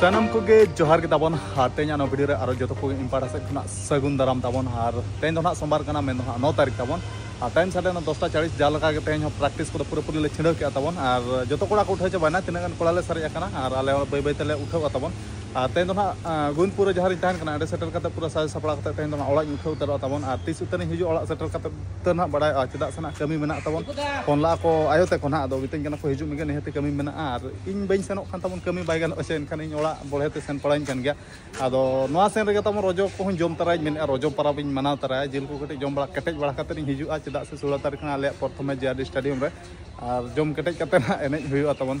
ᱥᱟᱱᱟᱢ ᱠᱚᱜᱮ ᱡᱚᱦᱟᱨ ᱜᱮ ᱛᱟᱵᱚᱱ ᱟᱨ ᱛᱮᱦᱮᱧ ᱟᱱᱚ ᱵᱷᱤᱰᱤᱭᱳ ᱨᱮ ᱟᱨᱚ ᱡᱚᱛᱚ ᱠᱚᱜᱮ ᱤᱧ ᱯᱟᱦᱴᱟ ᱥᱮᱫ ᱠᱷᱚᱱᱟᱜ ᱥᱟᱹᱜᱩᱱ ᱫᱟᱨᱟᱢ ᱛᱟᱵᱚᱱ ᱟᱨ ᱛᱮᱦᱮᱧ ᱫᱚ ᱱᱟᱜ ᱥᱳᱢᱵᱟᱨ ᱠᱟᱱᱟ ᱢᱮᱱ ᱫᱚ ᱱᱟᱜ ᱱᱚ ᱛᱟᱹᱨᱤᱠᱷ ᱛᱟᱵᱚᱱ ᱟᱨ ᱴᱟᱭᱤᱢ ᱥᱟᱰᱮ ᱱᱟ ᱫᱚᱥᱴᱟ ᱪᱟᱲᱤᱥ ᱡᱟ ᱞᱮᱠᱟ ᱜᱮ ᱛᱮᱦᱮᱧ ᱦᱚᱸ ᱯᱨᱮᱠᱴᱤᱥ ᱠᱚᱫᱚ ᱯᱩᱨᱟᱹ ᱯᱩᱨᱤ ᱞᱮ ᱪᱷᱤᱰᱟᱹᱣ ᱠᱮᱜᱼᱟ ᱛᱟᱵᱚᱱ ᱟᱨ ᱡᱚᱛᱚ ᱠᱚᱲᱟ ᱠᱚ ᱩᱴᱷᱟᱹᱣ ᱪᱟᱵᱟᱭᱮᱱᱟ ᱛᱤᱱᱟᱹᱜ ᱜᱟᱱ ᱠᱚᱲᱟ ᱞᱮ ᱥᱟᱨᱮᱡ ᱟᱠᱟᱱᱟ ᱟᱨ ᱟᱞᱮ ᱵᱟᱹᱭ ᱵᱟᱹᱭ ᱛᱮᱞᱮ ᱩᱴᱷᱟᱹᱣᱟ ᱛᱟᱵᱚᱱ ᱟᱨ ᱛᱮᱦᱮᱧ ᱫᱚ ᱱᱟᱜ ᱜᱳᱵᱤᱱᱫᱯᱩᱨ ᱨᱮ ᱡᱟᱦᱟᱸ ᱨᱤᱧ ᱛᱟᱦᱮᱱ ᱠᱟᱱᱟ ᱚᱸᱰᱮ ᱥᱮᱴᱮᱨ ᱠᱟᱛᱮ ᱯᱩᱨᱟᱹ ᱥᱟᱡᱟᱣ ᱥᱟᱯᱲᱟᱣ ᱠᱟᱛᱮ ᱛᱮᱦᱮᱧ ᱫᱚ ᱱᱟᱜ ᱚᱲᱟᱜ ᱤᱧ ᱩᱴᱷᱟᱹᱣ ᱩᱛᱟᱹᱨᱚᱜᱼᱟ ᱛᱟᱵᱚᱱ ᱟᱨ ᱛᱤᱥ ᱩᱛᱟᱹᱨᱤᱧ ᱦᱤᱡᱩᱜ ᱚᱲᱟᱜ ᱥᱮᱴᱮᱨ ᱠᱟᱛᱮ ᱩᱛᱟᱹᱨ ᱱᱟᱜ ᱵᱟᱲᱟᱭᱚᱜᱼᱟ ᱪᱮᱫᱟᱜ ᱥᱮ ᱱᱟᱜ ᱠᱟᱹᱢᱤ ᱢᱮᱱᱟᱜ ᱛᱟᱵᱚᱱ ᱯᱷᱳᱱ ᱞᱟᱜᱼᱟ ᱠᱚ ᱟᱭᱳ ᱛᱟᱠᱚ ᱱᱟᱜ ᱟᱫᱚ ᱢᱤᱛᱟᱹᱧ ᱠᱟᱱᱟ ᱠᱚ ᱦᱤᱡᱩᱜ ᱢᱮᱜᱮ ᱱᱤᱦᱟᱹᱛᱤ ᱠᱟᱹᱢᱤ ᱢᱮᱱᱟᱜᱼᱟ ᱟᱨ ᱤᱧ ᱵᱟᱹᱧ ᱥᱮᱱᱚᱜ ᱠᱷᱟᱱ ᱛᱟᱵᱚᱱ ᱠᱟᱹᱢᱤ ᱵᱟᱭ ᱜᱟᱱᱚᱜᱼᱟ ᱥᱮ ᱮᱱᱠᱷᱟᱱ ᱤᱧ ᱚᱲᱟᱜ ᱵᱚᱲᱦᱮ ᱛᱮ ᱥᱮᱱ ᱯᱟᱲᱟᱣᱤᱧ ᱠᱟᱱ ᱜᱮᱭᱟ ᱟᱫᱚ ᱱᱚᱣᱟ ᱥᱮᱱ ᱨᱮᱜᱮ ᱛᱟᱵᱚᱱ ᱨᱚᱡᱚ ᱠᱚᱦᱚᱸᱧ ᱡᱚᱢ ᱛᱟᱨᱟᱭᱟᱹᱧ ᱢᱮᱱᱮᱫᱼᱟ ᱨᱚᱡᱚ ᱯᱚᱨᱚᱵᱽ ᱤᱧ ᱢᱟᱱᱟᱣ ᱛᱟᱨᱟᱭᱟ ᱡᱤᱞ ᱠᱚ ᱠᱟᱹᱴᱤᱡ ᱡᱚᱢ ᱵᱟᱲᱟ ᱠᱮᱴᱮᱡ ᱵᱟᱲᱟ ᱠᱟᱛᱮ ᱤᱧ ᱦᱤᱡᱩᱜᱼᱟ ᱪᱮᱫᱟᱜ ᱥᱮ ᱥᱳᱞᱳ ᱛᱟᱹᱨᱤᱠᱷ ᱨᱮ ᱟᱞᱮᱭᱟᱜ ᱯᱨᱚᱛᱷᱚᱢ match J R D stadium ᱨᱮ ᱟᱨ ᱡᱚᱢ ᱠᱮᱴᱮᱡ ᱠᱟᱛᱮ ᱱᱟᱜ ᱮᱱᱮᱡ ᱦᱩᱭᱩᱜᱼᱟ ᱛᱟᱵᱚᱱ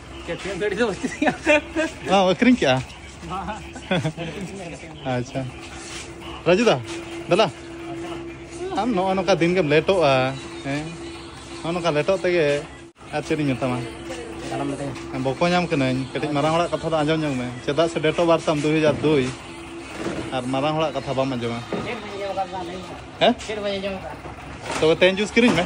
ᱠᱮᱯᱴᱮᱱ ᱜᱟᱹᱰᱤ ᱫᱚ ᱵᱟᱹᱪᱩᱜ ᱛᱤᱧᱟ ᱵᱟᱢ ᱟᱹᱠᱷᱨᱤᱧ ᱠᱮᱜᱼᱟ ᱟᱪᱪᱷᱟ ᱨᱟᱡᱩ ᱫᱟ ᱫᱟᱞᱟ ᱟᱢ ᱱᱚᱜᱼᱚ ᱱᱚᱝᱠᱟ ᱫᱤᱱ ᱜᱮᱢ ᱞᱮᱴᱚᱜᱼᱟ ᱦᱮᱸ ᱱᱚᱜᱼᱚ ᱱᱚᱝᱠᱟ ᱞᱮᱴᱚᱜ ᱛᱮᱜᱮ ᱟᱨ ᱪᱮᱫ ᱤᱧ ᱢᱮᱛᱟᱢᱟ ᱵᱚᱠᱚ ᱧᱟᱢ ᱠᱟᱹᱱᱟᱹᱧ ᱠᱟᱹᱴᱤᱡ ᱢᱟᱨᱟᱝ ᱦᱚᱲᱟᱜ ᱠᱟᱛᱷᱟ ᱫᱚ ᱟᱸᱡᱚᱢ ᱧᱚᱜ ᱢᱮ ᱪᱮᱫᱟᱜ ᱥᱮ ᱰᱮᱴ ᱚᱯᱷ ᱵᱟᱨᱛᱷ ᱛᱟᱢ ᱫᱩᱭ ᱦᱟᱡᱟᱨ ᱫᱩᱭ ᱟᱨ ᱢᱟᱨᱟᱝ ᱦᱚᱲᱟᱜ ᱠᱟᱛᱷᱟ ᱵᱟᱢ ᱟᱸᱡᱚᱢᱟ ᱦᱮᱸ ᱛᱚᱵᱮ ᱛᱮᱦᱮᱧ ᱡᱩᱥ ᱠᱤᱨᱤᱧ ᱢᱮ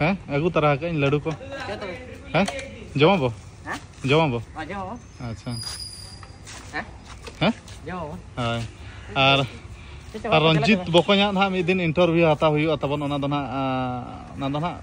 ᱦᱮᱸ ᱟᱹᱜᱩ ᱛᱟᱨᱟ ᱟᱠᱟᱫ ᱟᱹᱧ ᱞᱟᱹᱰᱩ ᱠᱚ ᱦᱮᱸ ᱡᱚᱢᱟ ᱵᱚ ᱡᱚᱢᱟ ᱵᱚ ᱟᱪᱪᱷᱟ ᱦᱮᱸ ᱦᱳᱭ ᱟᱨ ᱟᱨ ᱨᱚᱧᱡᱤᱛ ᱵᱚᱠᱚᱧᱟᱜ ᱱᱟᱦᱟᱜ ᱢᱤᱫ ᱫᱤᱱ ᱤᱱᱴᱟᱨᱵᱷᱤᱭᱩ ᱦᱟᱛᱟᱣ ᱦᱩᱭᱩᱜᱼᱟ ᱛᱟᱵᱚᱱ ᱚᱱᱟ ᱫᱚ ᱱᱟᱦᱟᱜ ᱚᱱᱟ ᱫᱚ ᱱᱟᱦᱟᱜ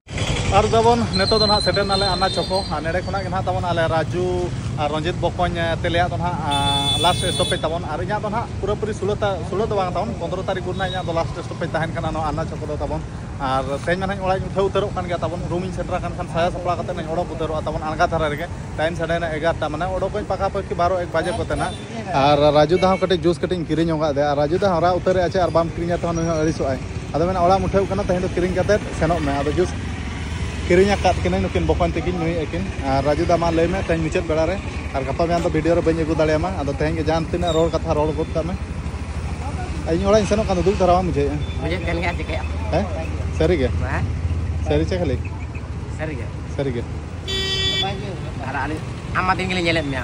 ᱟᱨ ᱫᱟᱵᱚᱱ ᱱᱤᱛᱚᱜ ᱫᱚ ᱱᱟᱦᱟᱜ ᱥᱮᱴᱮᱨ ᱱᱟᱞᱮ ᱟᱱᱟ ᱪᱚᱠᱚ ᱟᱨ ᱱᱮᱰᱮ ᱠᱷᱚᱱᱟᱜ ᱜᱮ ᱱᱟᱦᱟᱜ ᱛᱟᱵᱚᱱ ᱟᱞᱮ ᱨᱟᱡᱩ ᱟᱨ ᱨᱚᱧᱡᱤᱛ ᱵᱚᱠᱚᱧ ᱛᱮᱞᱮᱭᱟᱜ ᱫᱚ ᱱᱟᱦᱟᱜ ᱞᱟᱥᱴ ᱥᱴᱚᱯᱮᱡᱽ ᱛᱟᱵᱚᱱ ᱟᱨ ᱤᱧᱟᱹᱜ ᱫᱚ ᱱᱟᱦᱟᱜ ᱯᱩᱨᱟᱹᱯᱩᱨᱤ ᱥᱩᱞᱟᱹ ᱥᱩᱞᱟᱹ ᱫᱚ ᱵᱟᱝ ᱛᱟᱵᱚᱱ ᱯᱚᱱᱫᱨᱚ ᱛᱟᱹᱨᱤᱠᱷ ᱜᱩᱨ ᱱᱟᱦᱟᱜ ᱤᱧᱟᱹᱜ ᱫᱚ ᱞᱟᱥᱴ ᱥᱴᱚᱯᱮᱡᱽ ᱛᱟᱦᱮᱱ ᱠᱟᱱᱟ ᱱᱚᱣᱟ ᱟᱱᱟ ᱪᱚᱠᱚ ᱫᱚ ᱛᱟᱵᱚᱱ ᱟᱨ ᱛᱮᱦᱮᱧ ᱢᱟ ᱱᱟᱦᱟᱜ ᱚᱲᱟᱜ ᱤᱧ ᱩᱴᱷᱟᱹᱣ ᱩᱛᱟᱹᱨᱚᱜ ᱠᱟᱱ ᱜᱮᱭᱟ ᱛᱟᱵᱚᱱ ᱨᱩᱢ ᱤᱧ ᱥᱮᱴᱮᱨ ᱟᱠᱟᱱ ᱠᱷᱟᱱ ᱥᱟᱭᱟ ᱥᱟᱯᱲᱟᱣ ᱠᱟᱛᱮ ᱱᱟᱦᱟᱜ ᱤᱧ ᱚᱰᱚᱠ ᱩᱛᱟᱹᱨᱚᱜᱼᱟ ᱛᱟᱵᱚᱱ ᱟᱬᱜᱟ ᱫᱷᱟᱨᱟ ᱨᱮᱜᱮ ᱴᱟᱭᱤᱢ ᱥᱟᱰᱮᱭᱮᱱᱟ ᱮᱜᱟᱨᱚᱴᱟ ᱢᱟᱱᱮ ᱚᱰᱚᱠᱚᱜ ᱤᱧ ᱯᱟᱠᱟ ᱯᱟᱹᱠᱤ ᱵᱟᱨᱚ ᱮᱠ ᱵᱟᱡᱮ ᱠᱚᱛᱮ ᱱᱟᱦᱟᱜ ᱟᱨ ᱨᱟᱡᱩ ᱫᱟ ᱦᱚᱸ ᱠᱟᱹᱴᱤᱡ ᱡᱩᱥ ᱠᱟᱹᱴᱤᱡ ᱤᱧ ᱠᱤᱨᱤᱧ ᱚᱱᱠᱟᱫ ᱫᱮᱭᱟ ᱟᱨ ᱨᱟᱡᱩ ᱫᱟ ᱦᱚᱸ ᱨᱟᱜ ᱩᱛᱟᱹᱨᱮ ᱟᱪᱷᱟ ᱟᱨ ᱵᱟᱢ ᱠᱤᱨᱤᱧᱟ ᱛᱚ ᱱᱩᱭ ᱦᱚᱸ ᱟᱹᱲᱤᱥᱚᱜ ᱟᱭ ᱟᱫᱚ ᱢᱮᱱᱟ ᱚᱲᱟᱜ ᱢᱩᱴᱷᱟᱹᱣ ᱠᱟᱱᱟ ᱛᱮᱦᱮᱧ ᱫᱚ ᱠᱤᱨᱤᱧ ᱠᱟᱛᱮ ᱥᱮᱱᱚᱜ ᱢᱮ ᱟᱫᱚ ᱡᱩᱥ ᱠᱤᱨᱤᱧ ᱟᱠᱟᱫ ᱠᱤᱱᱟᱹᱧ ᱱᱩᱠᱤᱱ ᱵᱚᱠᱚᱧ ᱛᱟᱹᱠᱤᱱ ᱱᱩᱭ ᱟᱹᱠᱤᱱ ᱟᱨ ᱨᱟᱡᱩ ᱫᱟ ᱢᱟ ᱞᱟᱹᱭ ᱢᱮ ᱛᱮᱦᱮᱧ ᱢᱩᱪᱟᱹᱫ ᱵᱮᱲᱟ ᱨᱮ ᱟᱨ ᱜᱟᱯᱟ ᱢᱮᱭᱟᱝ ᱫᱚ ᱵᱷᱤᱰᱤᱭᱳ ᱨᱮ ᱵᱟᱹᱧ ᱟᱹᱜᱩ ᱫᱟᱲᱮᱭᱟᱢᱟ ᱟᱫᱚ ᱛᱮᱦᱮᱧ ᱜᱮ ᱡᱟᱦᱟᱸ ᱛᱤᱱᱟᱹᱜ ᱨᱚᱲ ᱠᱟᱛᱷᱟ ᱨᱚᱲ ᱜᱚᱫ ᱠᱟᱜ ᱢᱮ ᱤᱧ ᱚᱲᱟᱜ ᱤᱧ ᱥᱮᱱᱚᱜ ᱠᱟᱱ ᱫᱚ ᱫᱩᱠ ᱫᱷᱟᱨᱟ ᱵᱟᱢ ᱵᱩᱡᱷᱟᱹᱣᱮᱫᱼᱟ ᱵᱩᱡᱷᱟᱹᱜ ᱠᱟᱱ ᱜᱮᱭᱟ ᱪᱤᱠᱟᱹᱭᱟ ᱦᱮᱸ ᱥᱟᱹᱨᱤ ᱜᱮ ᱥᱟᱹᱨᱤ ᱪᱮ ᱠᱷᱟᱹᱞᱤ ᱥᱟᱹᱨᱤ ᱜᱮ ᱥᱟᱹᱨᱤ ᱜᱮ ᱟᱨ ᱟᱹᱞᱤᱧ ᱟᱢ ᱢᱟ ᱫᱤᱱ ᱜᱮᱞᱤᱧ ᱧᱮᱞᱮᱫ ᱢᱮᱭᱟ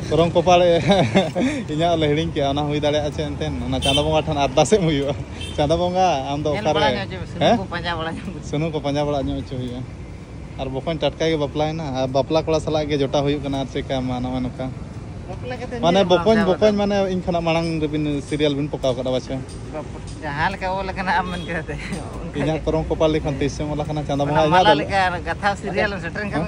ᱠᱚᱨᱚᱢ ᱠᱚᱯᱟᱲ ᱤᱧᱟᱹᱜ ᱞᱮ ᱦᱤᱲᱤᱧ ᱠᱮᱜᱼᱟ ᱚᱱᱟ ᱦᱩᱭ ᱫᱟᱲᱮᱭᱟᱜᱼᱟ ᱪᱮᱫ ᱮᱱᱛᱮ ᱚᱱᱟ ᱪᱟᱸᱫᱟ ᱵᱚᱸᱜᱟ ᱴᱷᱮᱱ ᱟᱨᱫᱟᱥ ᱮᱢ ᱦᱩᱭᱩᱜᱼᱟ ᱪᱟᱸᱫᱟ ᱵᱚᱸᱜᱟ ᱟᱢ ᱫᱚ ᱚᱠᱟᱨᱮ ᱦᱮᱸ ᱥᱩᱱᱩᱢ ᱠᱚ ᱯᱟᱸᱡᱟ ᱵᱟᱲᱟ ᱧᱚᱜ ᱦᱚᱪᱚ ᱦᱩᱭᱩᱜᱼᱟ ᱟᱨ ᱵᱚᱠᱚᱧ ᱴᱟᱴᱠᱟ ᱜᱮ ᱵᱟᱯᱞᱟᱭᱮᱱᱟ ᱟᱨ ᱵᱟᱯᱞᱟ ᱠᱚᱲᱟ ᱥᱟᱞᱟᱜ ᱜᱮ ᱡᱚᱴᱟᱣ ᱦᱩᱭᱩᱜ ᱠᱟᱱᱟ ᱟᱨ ᱪᱮᱠᱟ ᱢᱟ ᱱᱚᱜᱼᱚᱭ ᱱᱚᱝᱠᱟ ᱢᱟᱱᱮ ᱵᱚᱠᱚᱧ ᱵᱚᱠᱚᱧ ᱢᱟᱱᱮ ᱤᱧ ᱠᱷᱚᱱᱟᱜ ᱢᱟᱲᱟᱝ ᱨᱮᱵᱤᱱ ᱥᱤᱨᱤᱭᱟᱞ ᱵᱤᱱ ᱯᱚᱠᱟᱣ ᱠᱟᱫᱟ ᱵᱟᱪᱷᱟ ᱡᱟᱦᱟᱸ ᱞᱮᱠᱟ ᱚᱞ ᱟᱠᱟᱱᱟ ᱟᱢ ᱢᱮᱱ ᱠᱟᱛᱮ ᱤᱧᱟᱹᱜ ᱠᱚᱨᱚᱢ ᱠᱚᱯᱟᱞ ᱞᱮᱠᱷᱟᱱ ᱛᱤᱥᱮᱢ ᱚᱞ ᱟᱠᱟᱱᱟ ᱪᱟᱸᱫᱟ ᱵᱚᱸᱜᱟ ᱤᱧᱟᱹᱜ ᱠᱟᱛᱷᱟ ᱥᱤᱨᱤᱭᱟᱞ ᱥᱮᱴᱮᱨ ᱠᱟᱱᱟ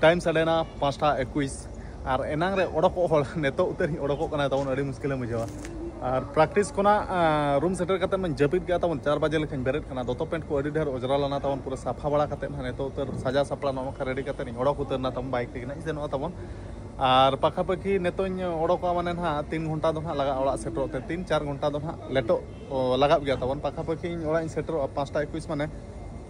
ᱴᱟᱭᱤᱢ ᱥᱟᱰᱮᱱᱟ ᱯᱟᱸᱪᱴᱟ ᱮᱠᱩᱤᱥ ᱟᱨ ᱮᱱᱟᱝ ᱨᱮ ᱚᱰᱚᱠᱚᱜ ᱦᱚᱲ ᱱᱤᱛᱚᱜ ᱩᱛᱟᱹᱨᱤᱧ ᱚᱰᱚᱠᱚᱜ ᱠᱟᱱᱟ ᱛᱟᱵᱚᱱ ᱟᱹᱰᱤ ᱢᱩᱥᱠᱤᱞᱮᱢ ᱵᱩᱡᱷᱟᱹᱣᱟ ᱟᱨ ᱯᱨᱮᱠᱴᱤᱥ ᱠᱷᱚᱱᱟᱜ ᱨᱩᱢ ᱥᱮᱴᱮᱨ ᱠᱟᱛᱮ ᱢᱟᱧ ᱡᱟᱹᱯᱤᱫ ᱠᱮᱫᱟ ᱛᱟᱵᱚᱱ ᱪᱟᱨ ᱵᱟᱡᱮ ᱞᱮᱠᱟᱧ ᱵᱮᱨᱮᱫ ᱠᱟᱱᱟ ᱫᱚᱛᱚ ᱯᱮᱱᱴ ᱠᱚ ᱟᱹᱰᱤ ᱰᱷᱮᱨ ᱚᱡᱽᱨᱟ ᱞᱮᱱᱟ ᱛᱟᱵᱚᱱ ᱯᱩᱨᱟᱹ ᱥᱟᱯᱷᱟ ᱵᱟᱲᱟ ᱠᱟᱛᱮ ᱱᱟᱦᱟᱜ ᱱᱤᱛᱚᱜ ᱩᱛᱟᱹᱨ ᱥᱟᱡᱟᱣ ᱥᱟᱯᱲᱟᱣ ᱱᱚᱜᱼᱚ ᱱᱚᱝᱠᱟ ᱨᱮᱰᱤ ᱠᱟᱛᱮ ᱤᱧ ᱚᱰᱚᱠ ᱩᱛᱟᱹᱨᱱᱟ ᱛᱟᱵᱚᱱ ᱵᱟᱭᱤᱠ ᱛᱮᱜᱮ ᱱᱟᱦᱟᱜ ᱥᱮᱱᱚᱜᱼᱟ ᱛᱟᱵᱚᱱ ᱟᱨ ᱯᱟᱠᱷᱟ ᱯᱟᱹᱠᱷᱤ ᱱᱤᱛᱚᱜ ᱤᱧ ᱚᱰᱚᱠᱚᱜᱼᱟ ᱢᱟᱱᱮ ᱱᱟᱦᱟᱜ ᱛᱤᱱ ᱜᱷᱚᱱᱴᱟ ᱫᱚ ᱱᱟᱦᱟᱜ ᱞᱟᱜᱟᱜᱼᱟ ᱚᱲᱟᱜ ᱥᱮᱴᱮᱨᱚᱜ ᱛᱮ ᱛᱤᱱ ᱪᱟᱨ ᱜᱷᱚᱱᱴᱟ ᱫᱚ ᱱᱟᱦᱟᱜ ᱞᱮᱴᱚᱜ ᱞᱟᱜᱟᱜ ᱜᱮᱭᱟ ᱛᱟᱵᱚᱱ ᱯᱟᱠᱷᱟ ᱯᱟᱹᱠᱷᱤ ᱤᱧ ᱚᱲᱟᱜ ᱤᱧ ᱥᱮᱴᱮᱨᱚᱜᱼᱟ ᱯᱟᱸᱪᱴᱟ ᱮᱠᱩᱤᱥ ᱢᱟᱱᱮ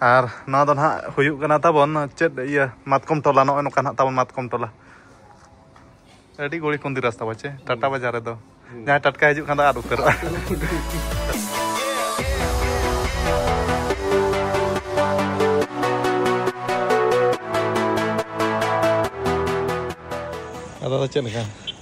ᱟᱨ ᱱᱚᱣᱟ ᱫᱚ ᱱᱟᱦᱟᱜ ᱦᱩᱭᱩᱜ ᱠᱟᱱᱟ ᱛᱟᱵᱚᱱ ᱪᱮᱫ ᱤᱭᱟᱹ ᱢᱟᱛᱠᱚᱢ ᱴᱚᱞᱟ ᱱᱚᱜᱼᱚᱭ ᱱᱚᱝᱠᱟ ᱱᱟᱦᱟᱜ ᱛᱟᱵᱚᱱ ᱢᱟᱛᱠᱚᱢ ᱴᱚᱞᱟ ᱟᱹᱰᱤ ᱜᱩᱲᱤ ᱠᱩᱸᱫᱤ ᱨᱟᱥᱛᱟ ᱵᱟᱪᱮ ᱴᱟᱴᱟ ᱵᱟᱡᱟᱨ ᱨᱮᱫᱚ ᱡᱟᱦᱟᱸᱭ ᱴᱟᱴᱠᱟ ᱦᱤᱡᱩᱜ ᱠᱷᱟᱱ ᱫᱚ ᱟᱫ ᱩᱛᱟᱹᱨᱚᱜᱼᱟ ᱟᱫᱚ ᱪᱮᱫ ᱞᱮᱠᱟ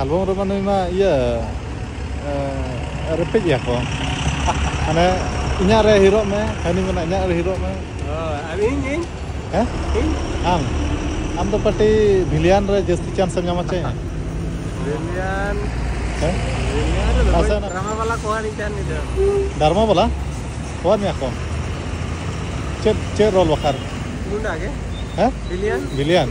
ᱟᱞᱵᱚᱢ ᱨᱮᱢᱟ ᱱᱩᱭ ᱢᱟ ᱤᱭᱟᱹ ᱨᱮᱯᱮᱡ ᱮᱭᱟ ᱠᱚ ᱢᱟᱱᱮ ᱤᱧᱟᱹᱜ ᱨᱮ ᱦᱤᱨᱚᱜ ᱢᱮ ᱦᱟᱹᱱᱤ ᱢᱮᱱᱟ ᱤᱧᱟᱹᱜ ᱨᱮ ᱦᱤᱨᱚᱜ ᱢᱮ ᱟᱨ ᱤᱧ ᱤᱧ ᱦᱮᱸ ᱤᱧ ᱟᱢ ᱟᱢ ᱫᱚ ᱯᱟᱴᱤ ᱵᱷᱤᱞᱤᱭᱟᱱ ᱨᱮ ᱡᱟᱹᱥᱛᱤ ᱪᱟᱱᱥ ᱮᱢ ᱧᱟᱢᱟ ᱪᱮ ᱵᱷᱤᱞᱤᱭᱟᱱ ᱦᱮᱸ ᱵᱷᱤᱞᱤᱭᱟᱱ ᱨᱮ ᱟᱥᱟ ᱱᱟ ᱰᱨᱟᱢᱟ ᱵᱟᱞᱟ ᱠᱚ ᱦᱟᱹᱱᱤ ᱪᱟᱱ ᱱᱤᱫᱟᱹ ᱰᱟᱨᱢᱟ ᱵᱟᱞᱟ ᱦᱚᱣᱟ ᱢᱮᱭᱟ ᱠᱚ ᱪᱮᱫ ᱪᱮᱫ ᱨᱳᱞ ᱵᱟᱠᱷᱟᱨ ᱜᱩᱱᱰᱟ ᱜᱮ ᱦᱮᱸ ᱵᱷᱤᱞᱤᱭᱟᱱ ᱵᱷᱤᱞᱤᱭᱟᱱ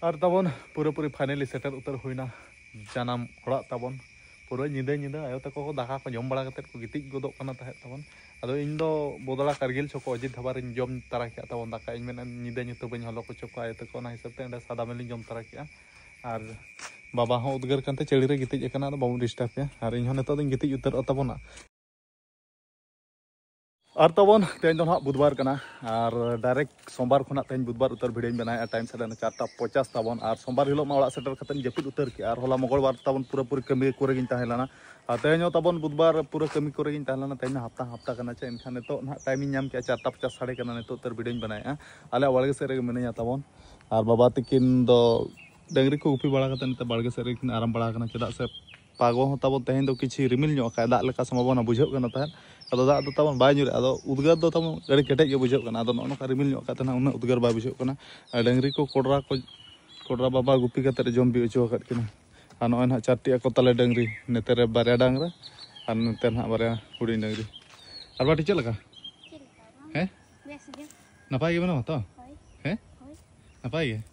ᱟᱨ ᱛᱟᱵᱚᱱ ᱯᱩᱨᱟᱹᱯᱩᱨᱤ ᱯᱷᱟᱭᱱᱟᱞᱤ ᱥᱮᱴᱮᱨ ᱩᱛᱟᱹᱨ ᱦᱩᱭᱱᱟ ᱡᱟᱱᱟᱢ ᱚᱲᱟᱜ ᱛᱟᱵᱚᱱ ᱯᱩᱨᱟᱹ ᱧᱤᱫᱟᱹ ᱧᱤᱫᱟᱹ ᱟᱭᱳ ᱛᱟᱠᱚ ᱠᱚ ᱫᱟᱠᱟ ᱠᱚ ᱡᱚᱢ ᱵᱟᱲᱟ ᱠᱟᱛᱮ ᱠᱚ ᱜᱤᱛᱤᱡ ᱜᱚᱫᱚᱜ ᱠᱟᱱᱟ ᱛᱟᱦᱮᱸᱫ ᱛᱟᱵᱚᱱ ᱟᱫᱚ ᱤᱧ ᱫᱚ ᱵᱚᱫᱚᱲᱟ ᱠᱟᱨᱜᱤᱞ ᱪᱚᱠᱚ ᱚᱡᱤᱛ ᱫᱷᱟᱵᱟ ᱨᱤᱧ ᱡᱚᱢ ᱛᱟᱨᱟ ᱠᱮᱫᱼᱟ ᱛᱟᱵᱚᱱ ᱫᱟᱠᱟ ᱤᱧ ᱢᱮᱱᱟ ᱧᱤᱫᱟᱹ ᱧᱩᱛᱟᱹ ᱵᱟᱹᱧ ᱦᱚᱞᱚ ᱦᱚᱪᱚ ᱠᱚᱣᱟ ᱟᱭᱳ ᱛᱟᱠᱚ ᱚᱱᱟ ᱦᱤᱥᱟᱹᱵ ᱛᱮ ᱚᱸᱰᱮ ᱥᱟᱫᱟ ᱢᱮᱞᱤᱧ ᱡᱚᱢ ᱛᱟᱨᱟ ᱠᱮᱫᱼᱟ ᱟᱨ ᱵᱟᱵᱟ ᱦᱚᱸ ᱩᱫᱽᱜᱟᱹᱨ ᱠᱟᱱᱛᱮ ᱪᱟᱹᱲᱤ ᱨᱮ ᱜᱤᱛᱤᱡ ᱟᱠᱟᱱᱟ ᱟᱫᱚ ᱵᱟᱵᱚᱱ ᱰᱤᱥᱴᱟᱨᱵ ᱮᱭᱟ ᱟᱨ ᱤᱧ ᱦᱚᱸ ᱱᱤᱛᱚᱜ ᱫᱚᱧ ᱜᱤᱛᱤᱡ ᱩᱛᱟᱹᱨᱚᱜ ᱛᱟᱵᱚᱱᱟ ᱟᱨ ᱛᱟᱵᱚᱱ ᱛᱮᱦᱮᱧ ᱫᱚ ᱱᱟᱦᱟᱜ ᱵᱩᱫᱷᱵᱟᱨ ᱠᱟᱱᱟ ᱟᱨ ᱰᱟᱭᱨᱮᱠᱴ ᱥᱳᱢᱵᱟᱨ ᱠᱷᱚᱱᱟᱜ ᱛᱮᱦᱮᱧ ᱵᱩᱫᱷᱵᱟᱨ ᱩᱛᱟᱹᱨ ᱵᱷᱤᱰᱤᱭᱳᱧ ᱵᱮᱱᱟᱣᱮᱫᱼᱟ ᱴᱟᱭᱤᱢ ᱥᱮᱴᱮᱨ ᱮᱱᱟ ᱪᱟᱨᱴᱟ ᱯᱚᱪᱟᱥ ᱛᱟᱵᱚᱱ ᱟᱨ ᱥᱳᱢᱵᱟᱨ ᱦᱤᱞᱳᱜ ᱢᱟ ᱚᱲᱟᱜ ᱥᱮᱴᱮᱨ ᱠᱟᱛᱮᱧ ᱡᱟᱹᱯᱤᱫ ᱩᱛᱟᱹᱨ ᱠᱮᱜᱼᱟ ᱟᱨ ᱦᱚᱞᱟ ᱢᱚᱝᱜᱚᱞᱵᱟᱨ ᱛᱟᱵᱚᱱ ᱯᱩᱨᱟᱹᱯᱩᱨᱤ ᱠᱟᱹᱢᱤ ᱠᱚᱨᱮ ᱜᱤᱧ ᱛᱟᱦᱮᱸ ᱞᱮᱱᱟ ᱟᱨ ᱛᱮᱦᱮᱧ ᱦᱚᱸ ᱛᱟᱵᱚᱱ ᱵᱩᱫᱷᱵᱟᱨ ᱯᱩᱨᱟᱹ ᱠᱟᱹᱢᱤ ᱠᱚᱨᱮ ᱜᱤᱧ ᱛᱟᱦᱮᱸ ᱞᱮᱱᱟ ᱛᱮᱦᱮᱧ ᱢᱟ ᱦᱟᱯᱛᱟ ᱦᱟᱯᱛᱟ ᱠᱟᱱᱟ ᱪᱮ ᱮᱱᱠᱷᱟᱱ ᱱᱤᱛᱚᱜ ᱱᱟᱦᱟᱜ ᱴᱟᱭᱤᱢᱤᱧ ᱧᱟᱢ ᱠᱮᱜᱼᱟ ᱪᱟᱨᱴᱟ ᱯᱚᱪᱟᱥ ᱥᱟᱲᱮ ᱠᱟᱱᱟ ᱱᱤᱛᱚᱜ ᱩᱛᱟᱹᱨ ᱵᱷᱤᱰᱤᱭᱳᱧ ᱵᱮᱱᱟᱣᱮᱫᱼᱟ ᱟᱞᱮᱭᱟᱜ ᱵᱟᱲᱜᱮ ᱥᱮᱫ ᱨᱮᱜᱮ ᱢᱤᱱᱟᱹᱧᱟ ᱛᱟᱵᱚᱱ ᱟᱨ ᱵᱟᱵᱟ ᱛᱤᱠᱤᱱ ᱫᱚ ᱰᱟᱹᱝᱨᱤ ᱠᱚ ᱜᱩᱯᱤ ᱵᱟᱲᱟ ᱠᱟᱛᱮ ᱱᱤᱛᱚᱜ ᱵᱟᱲᱜᱮ ᱥᱮᱫ ᱨᱮᱜᱮ ᱠᱤᱱ ᱟᱨᱟᱢ ᱵᱟᱲᱟ ᱟᱠᱟᱱᱟ ᱪᱮᱫᱟᱜ ᱥᱮ ᱯᱟᱜᱚ ᱦᱚᱸ ᱛᱟᱵᱚᱱ ᱛᱮᱦᱮᱧ ᱫᱚ ᱠᱤᱪᱷᱤ ᱨᱤᱢᱤᱞ ᱧᱚᱜ ᱟᱠᱟᱫ ᱫᱟᱜ ᱞᱮᱠᱟ ᱥᱚᱢᱵᱷᱚᱵᱚᱱᱟ ᱵᱩᱡᱷᱟᱹᱜ ᱠᱟᱱᱟ ᱛᱟᱦᱮᱸᱫ ᱟᱫᱚ ᱫᱟᱜ ᱫᱚ ᱛᱟᱵᱚᱱ ᱵᱟᱭ ᱧᱩᱨᱮᱜᱼᱟ ᱟᱫᱚ ᱩᱫᱽᱜᱟᱹᱨ ᱫᱚ ᱛᱟᱵᱚᱱ ᱟᱹᱰᱤ ᱠᱮᱴᱮᱡ ᱜᱮ ᱵᱩᱡᱷᱟᱹᱜ ᱠᱟᱱᱟ ᱟᱫᱚ ᱱᱚᱜᱼᱚ ᱱᱚᱝᱠᱟ ᱨᱤᱢᱤᱞ ᱧᱚᱜ ᱟᱠᱟᱫ ᱛᱟᱦᱮᱱᱟ ᱩᱱᱟᱹᱜ ᱩᱫᱽᱜᱟᱹᱨ ᱵᱟᱭ ᱵᱩᱡᱷᱟᱹᱜ ᱠᱟᱱᱟ ᱟᱨ ᱰᱟᱹᱝᱨᱤ ᱠᱚ ᱠᱚᱰᱨᱟ ᱠᱚ ᱠᱚᱰᱨᱟ ᱵᱟᱵᱟ ᱜᱩᱯᱤ ᱠᱟᱛᱮ ᱡᱚᱢ ᱵᱤ ᱦᱚᱪᱚ ᱟᱠᱟᱫ ᱠᱤᱱᱟ ᱟᱨ ᱱᱚᱜᱼᱚᱭ ᱱᱟᱦᱟᱜ ᱪᱟᱨᱴᱤ ᱟᱠᱚ ᱛᱟᱞᱮ ᱰᱟᱹᱝᱨᱤ ᱱᱮᱛᱮ ᱨᱮ ᱵᱟᱨᱭᱟ ᱰᱟᱝᱨᱟ ᱟᱨ ᱱᱮᱛᱮ ᱱᱟᱦᱟᱜ ᱵᱟᱨᱭᱟ ᱦᱩᱰᱤᱧ ᱰᱟᱹᱝᱨᱤ ᱟᱨ ᱵᱟᱴᱤ ᱪᱮᱫ ᱞᱮᱠᱟ ᱦᱮᱸ ᱱᱟᱯᱟᱭ ᱜᱮ ᱢᱮᱱᱟᱢᱟ ᱛᱚ ᱦᱮᱸ ᱱᱟᱯᱟᱭ ᱜᱮ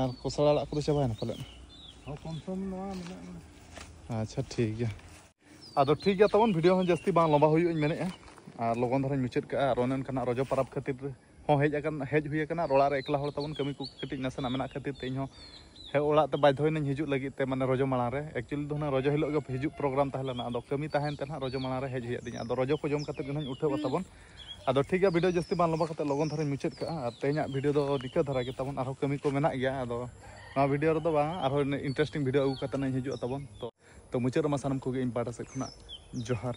ᱟᱨ ᱠᱚᱥᱲᱟ ᱟᱲᱟᱜ ᱠᱚᱫᱚ ᱪᱟᱵᱟᱭᱮᱱᱟ ᱯᱟᱞᱮᱫ ᱦᱚᱸ ᱠᱚᱢ ᱥᱚᱢ ᱱᱚᱣᱟ ᱢᱮᱱᱟᱜᱼᱟ ᱟᱪᱪᱷᱟ ᱴᱷᱤᱠ ᱜᱮᱭᱟ ᱟᱫᱚ ᱴᱷᱤᱠ ᱜᱮᱭᱟ ᱛᱟᱵᱚᱱ ᱵᱷᱤᱰᱤᱭᱳ ᱦᱚᱸ ᱡᱟᱹᱥᱛᱤ ᱵᱟᱝ ᱞᱚᱢᱵᱟ ᱦᱩᱭᱩᱜ ᱤᱧ ᱢᱮᱱᱮᱫᱼᱟ ᱟᱨ ᱞᱚᱜᱚᱱ ᱫᱷᱟᱨᱟᱧ ᱢᱩᱪᱟᱹᱫ ᱠᱟᱜᱼᱟ ᱟᱨ ᱚᱱᱮ ᱚᱱᱠᱟᱱᱟᱜ ᱨᱚᱡᱚ ᱯᱟᱨᱟᱵᱽ ᱠᱷᱟᱹᱛᱤᱨ ᱦᱚᱸ ᱦᱮᱡ ᱟᱠᱟᱱ ᱦᱮᱡ ᱦᱩᱭ ᱟᱠᱟᱱᱟ ᱟᱨ ᱚᱲᱟᱜ ᱨᱮ ᱮᱠᱞᱟ ᱦᱚᱲ ᱛᱟᱵᱚᱱ ᱠᱟᱹᱢᱤ ᱠᱚ ᱠᱟᱹᱴᱤᱡ ᱱᱟᱥᱮᱱᱟᱜ ᱢᱮᱱᱟᱜ ᱠᱷᱟᱹᱛᱤᱨ ᱛᱮ ᱤᱧ ᱦᱚᱸ ᱦᱮᱡ ᱚᱲᱟᱜ ᱛᱮ ᱵᱟᱫᱽᱫᱷᱚᱭᱮᱱᱟᱹᱧ ᱦᱤᱡᱩᱜ ᱞᱟᱹᱜᱤᱫ ᱛᱮ ᱢᱟᱱᱮ ᱨᱚᱡᱚ ᱢᱟᱲᱟᱝ ᱨᱮ ᱮᱠᱪᱩᱭᱮᱞᱤ ᱫᱚ ᱦᱩᱱᱟᱹᱝ ᱨᱚᱡᱚ ᱦᱤᱞᱳᱜ ᱜᱮ ᱦᱤᱡᱩᱜ ᱯᱨᱳᱜᱨᱟᱢ ᱛᱟᱦᱮᱸ ᱞᱮᱱᱟ ᱟᱫᱚ ᱠᱟᱹᱢᱤ ᱛᱟᱦᱮᱱ ᱛᱮ ᱱᱟᱦᱟᱜ ᱨᱚᱡᱚ ᱢᱟᱲᱟᱝ ᱨᱮ ᱦᱮᱡ ᱦᱩᱭᱟᱫᱤᱧᱟ ᱟᱫᱚ ᱨᱚᱡᱚ ᱠᱚ ᱡᱚᱢ ᱠᱟᱛᱮᱫ ᱜᱮ ᱱᱟᱦᱟᱜ ᱤᱧ ᱩᱴᱷᱟᱹᱣᱟ ᱛᱟᱵᱚᱱ ᱟᱫᱚ ᱴᱷᱤᱠ ᱜᱮᱭᱟ ᱵᱷᱤᱰᱤᱭᱳ ᱡᱟᱹᱥᱛᱤ ᱵᱟᱝ ᱞᱚᱢᱵᱟ ᱠᱟᱛᱮ ᱞᱚᱜᱚᱱ ᱫᱷᱟᱨᱟᱧ ᱢᱩᱪᱟᱹᱫ ᱠᱟᱜᱼᱟ ᱟᱨ ᱛᱮᱦᱮᱧᱟᱜ ᱵᱷᱤᱰᱤᱭᱳ ᱫᱚ ᱱᱤᱠᱟᱹ ᱫᱷᱟᱨᱟ ᱜᱮ ᱛᱟᱵᱚᱱ ᱟᱨᱦᱚᱸ ᱠᱟᱹᱢᱤ ᱠᱚ ᱢᱮᱱᱟᱜ ᱜᱮᱭᱟ ᱟᱫᱚ ᱱᱚᱣᱟ ᱵᱷᱤᱰᱤᱭᱳ ᱨᱮᱫᱚ ᱵᱟᱝ ᱟᱨᱦᱚᱸ ᱤᱱᱴᱟᱨᱮᱥᱴᱤᱝ ᱵᱷᱤᱰᱤᱭᱳ ᱟᱹᱜᱩ ᱠᱟᱛᱮ ᱤᱧ ᱦᱤᱡᱩᱜᱼᱟ ᱛᱟᱵᱚᱱ ᱛᱚ ᱛᱚ ᱢᱩᱪᱟᱹᱫ ᱨᱮᱢᱟ ᱥᱟᱱᱟᱢ ᱠᱚᱜᱮ ᱤᱧ ᱯᱟᱦᱴᱟ ᱥᱮᱫ ᱠᱷᱚᱱᱟᱜ ᱡᱚᱦᱟᱨ